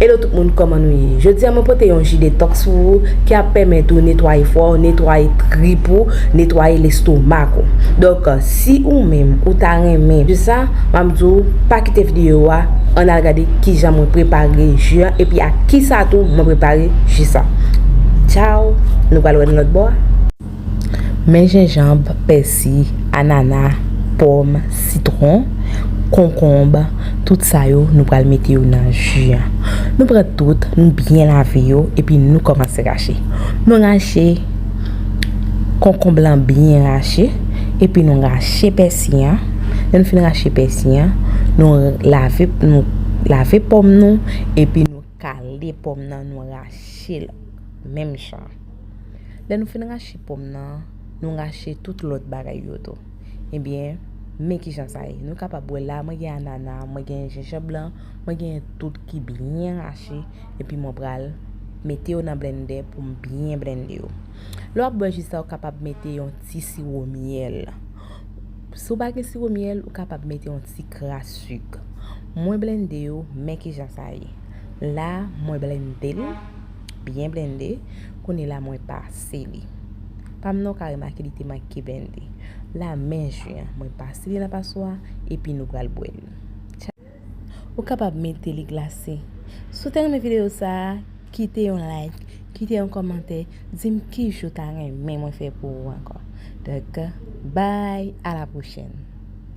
Hello tout moun koman nou ye jodi a mwen pote yon ji detox pou ou ki ap pèmèt ou netwaye fwa ou netwaye trip ou netwaye lestomak ou donk si ou menm ou ta renmen ji sa map di ou pa kite videyo a ann al gade kijan mwen prepare ji an epi ak kisa tou mwen prepare ji sa tchaww nou pral wè nan lòt bò a. Men jenjanb, pèsi, anana, pòm, sitwon, konkonb, tout sa yo nou pral mete yo nan ji an. Nou pran tout, nou byen lave yo epi nou kòmanse rache. Nou rache konkonb lan byen rache epi nou rache pèsi an. Lè nou fin rache pèsi an, nou lave nou lave pòm nou epi nou kale pòm nan nou rache l menm jan. Lè nou fin rache pòm nan, nou rache tout lòt bagay yo tou. Ebyen, men ki jan sa ye. Nou kapab wè la, mwen gen anana, mwen gen jenjan blan, mwen gen tout ki byen rache, epi mwen pral mete yo nan blennde pou m byen blennde yo. Lè w ap bwè ji sa, ou kapab mete yon ti siwo myèl. Si w pa gen siwo myèl, ou kapab mete yon ti kras sik. Mwen blennde yo, men ki jan sa ye. La, mwen blennde l. Byen blende, kounye la mwen pase li. Pa m nan w ka remake li te manke blende. La menm je an, mwen pase li nan paswa epi nou pral bwè li. Ou kapab mete li glase. Si w te renmen videyo sa a, kite yon like, kite yon kòmantè, di m ki je w ta renmen mwen fè pou ou ankò. Donk, bay, a la pwochèn!